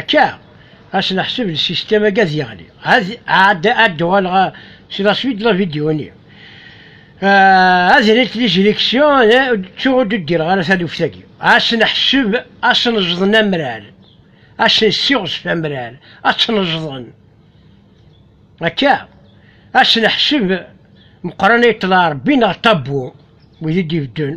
Akka, ɣas neḥseb lsistem agi ad yeɣli, ad d-uɣaleɣ si la suite la vidéo-nni. Ad nelt liziliksyu, ttuɣ ur d-udireɣ ara taluft-agi. Ɣas neḥseb ad sneẓden amrar, ad sen-ssiɣzef amrar, ad tt-neẓden. Akka, ɣas neḥseb Meqqran yeṭṭel Rebbi neɣ ṭabbu, wid i d-ibeddun.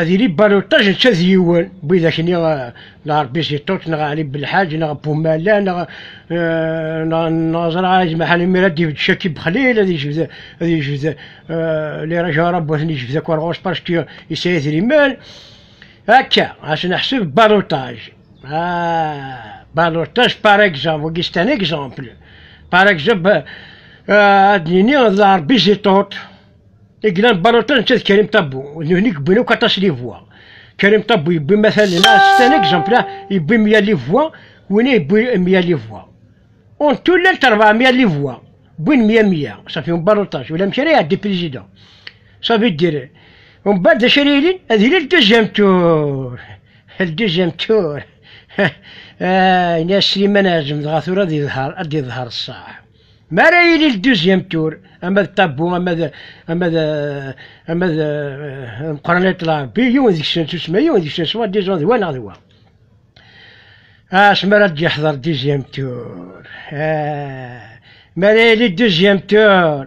Ad yili baluṭaj ačča d yiwen, widak-nni Lɛerbi si Ṭuṭ neɣ Ɛli Belḥaǧ neɣ Bumala neɣ neɣ ẓra Ɛli Maḥan imir ad d-ibedd Caki Bexlil ad yejbed ad yejbed Liraj Arabu ad ten-yejbed akk ar ɣur-s paski yesɛa idrimen akka ad neḥseb baluṭaj baluṭaj par exemple wagi c'est un exemple par exemple ad d-nini d Lɛerbi si Ṭuṭ I yellan baluṭa netta d Karim Tabou, d nutni yewwin akk aṭas livwa. Karim Tabou yewwi matalen, astan exemple, yewwi mya livwa, winna yewwi mya livwa. En tout llant 400 livwa, wwin mya mya, ça fait un balotage, ulamek ara iɛeddi président. Ça veut dire, umbeɛd d acu ara yilin? Ad yili le deuxième tour, le deuxième tour. Ini-as Slimane Azem dɣa tura ad yeḍher ṣṣeḥ. Mi ara yili le deuxième tour, ama d ṭabbu, ama d ama d ama d Meqran At Lɛebbi, yiwen deg-sen s usma, yiwen deg-sen s wa, disons d wa neɣ d wa. Asmi ara d-yeḥḍer deuxième tour, mi ara yili deuxième tour,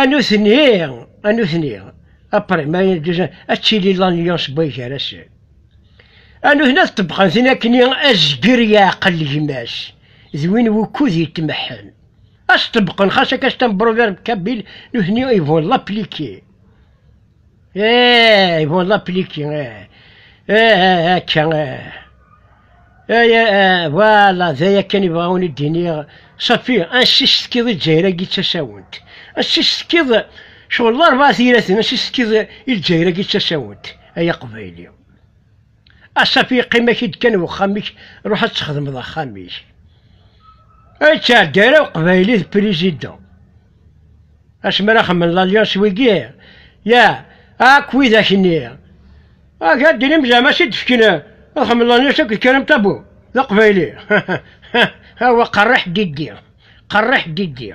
A nutni, a nutni, aprimay n dduzan, ad tili l'alliance boy gar-asen. A nutni ad ṭebbqen tin akkenni azger yeɛqel gma-s, d win wukud yetmeḥḥen. Ad s-ṭebbqen xas akka s tambruvert kabil, nutni ils vont l'appliquer. Eeeey, bon la pliki, eeeey, eeeey, akka, eeeey. Eeeey, voilà, d aya kan i bɣawen i d-iniɣ, safi, ansi s-tekkiḍ i Lezzayer-agi d tasawent? Ansi s-tekkiḍ, cɣel d arbaɛa tiraten, ansi s-tekkiḍ i Lezzayer-agi d tasawent, ay Aqbayli? Asaf yeqqim-ak-id kan wexxam-ik, ruḥ ad txedmeḍ axxam-ik. Ay ttɛeddi ara uqbayli d président. Asmi ara xemmen l'alliance wigi, ya, ak widak nni. Ak ad dinim zɛama si d-fken ad xemmen l'alliance akked Karim Tabu, d aqbayli. Awa qerriḥ diddi, qerriḥ diddi.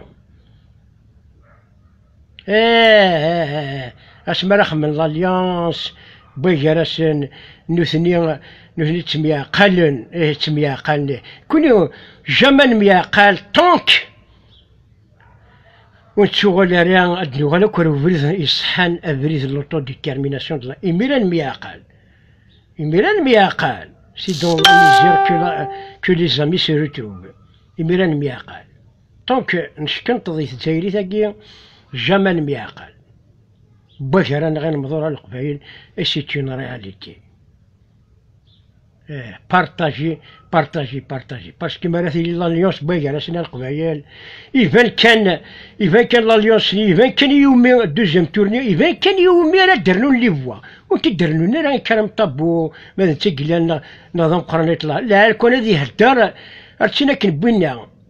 Eh, asmi ara xemmen l'alliance wway gar-asen nutni nutni ttemyeɛqalen eh ttemyeɛqalen eh kuni jamais nemyeɛqal tant ur nettuɣal ara ad nuɣal akk ar ubrid iṣeḥḥan abrid n l'autodétermination de la imir-a nemyeɛqal imir-a nemyeɛqal si dans la misère que les amis se retrouvent imir-a nemyeɛqal Tant que neckenṭeḍ i tezzayrit-agi, jamais ne m'y aqal. Wak ara nɣ inemḍura n Leqbayel, et c'est une réalité. Eh, partagez, partagez, partagez. Parce que mi ara tili l'alliance n wagar-asen a Leqbayel, iban kan, iban kan l'alliance-nni, iban kan i iwumi deuxième tour-nni, iban kan i iwumi ara d-rnun les voix. Ur t-id-rnun ara Karam Tabou, ma d netta i yellan neɣ d ameqqran i ṭṭlam. Lɛerk-a ad ihedder, ar tin akken wwin-aɣ.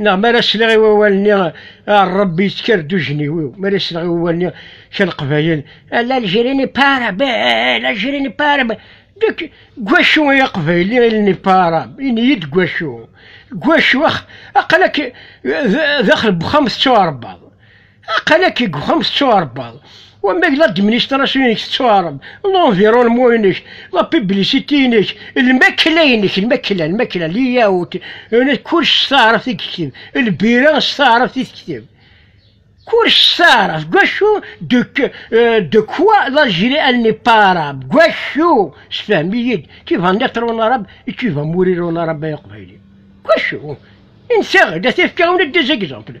neɣ mi ara sliɣ i wawal-nni Ṛebbi yettker-d ujenniw-iw, mi ara sliɣ i wawal-nni kra n Leqbayel, l'Algérie n'est pas arabe, l'Algérie n'est pas arabe, deg wacu ay Aqbayli il n'est pas arabe, ini-yi-d deg wacu, deg wacu, ax, aql-ak daxel n uxxam tettuɛerbaḍ. Aqalak i uxxam tettuɛrebbaḍ. Wamma deg l'administration-ik tettuɛreb, l'environnement-inek, la publicité-inek, lmakla-inek, lmakla, lmakla, layout, kullec s taɛrabt i yekteb, lbira s taɛrabt i tekteb. Kullec s taɛrabt, gwacu de, euh, de quoi l'Algérie elle n'est pas arabe, gwacu, sefhem-iyi-d, tu vas naître en arabe et tu vas mourir en arabe ay aqbayli. Gwacu, insa-ɣ-d, ad t-efk-aɣ-d des exemples.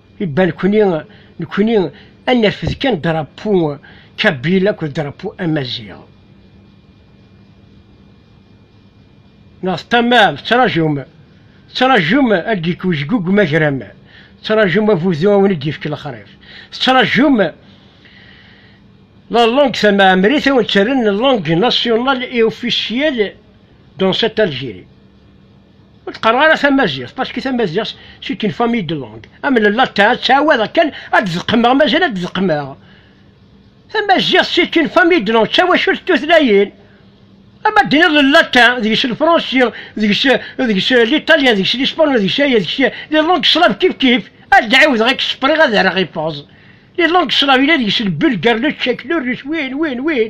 Ibalkuni nekni ad nerfed kan drapu kabil akked drapu amaziɣ. Neɣ teṭṭamam, tettrajum, tettrajum ad d-yekk wejgug magram, tettrajum avudu ad wen-d-yefk lexrif, tettrajum la langue tamaɛemrit ad wen-d-terren langue nationale et officielle dans cette Algérie. ur teqqareɣ ara tamaziɣt paski tamaziɣt si une famille de langue am le latin ttɛawad akken ad d-zeqmeɣ mazal ad d-zeqmeɣ tamaziɣt si une famille de langue ttawacult tutlayin ama d-tiniḍ le latin deg-s le fransi deg-s deg-s l'italien deg-s l'espagnol deg-s aya deg-s les langues slaves kif kif ad d-ɛiwdeɣ akken spriɣ ad rreɣ ifeẓ les langues slaves yella deg-s le bulgare le tchèque le russe win win win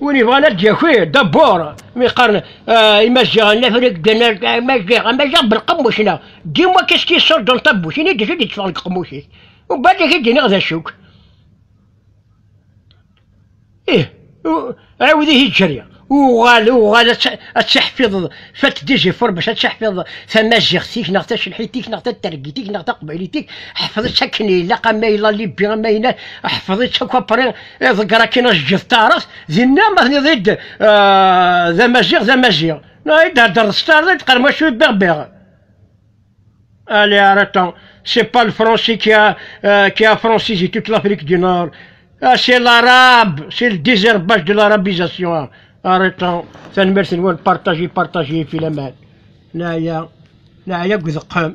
Win yebɣan ad d-yaki dabur, mi qqaren ah, imaziɣen, lafrik ddan ar amaziɣ, amaziɣ belqemmuc neɣ dim wakk i s-t-yessuddun tabbucin i d-id yetteffɣen deg qemmuc-is. Ubadd ak i d-iniɣ d acu-k. Ih, u- ɛiwed ihi ǧǧeri, uɣal, uɣal ad tt- ad tiḥfiḍeḍ, fat d izifuṛ bac ad tiḥfiḍeḍ tamaziɣt-ik neɣ tacelḥit-ik neɣ tatergit-ik neɣ taqbaylit-ik, ḥfeḍ-itt akken ilaq, a ma yella libbi, a ma yella, ḥfeḍ-itt akk apṛi, Iḍegger akin ajeǧǧet taɛrabt, dinna ma tniḍ-id d amaziɣ d amaziɣ. No, i d-herdreḍ s taɛrabt, qar mačči d berber. Allez, arrêtons. C'est pas le français qui a, euh, qui a francisé toute l'Afrique du Nord. Ah, c'est l'arabe, c'est le désherbage de l'arabisation. Hein. Arrêtons. Tanemmirt-nwen, partagez, partagez, filaman. Naya, naya deg udeqqem.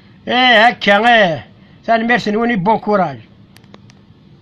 Ih akka ih, tanemmirt-nwen i bon courage.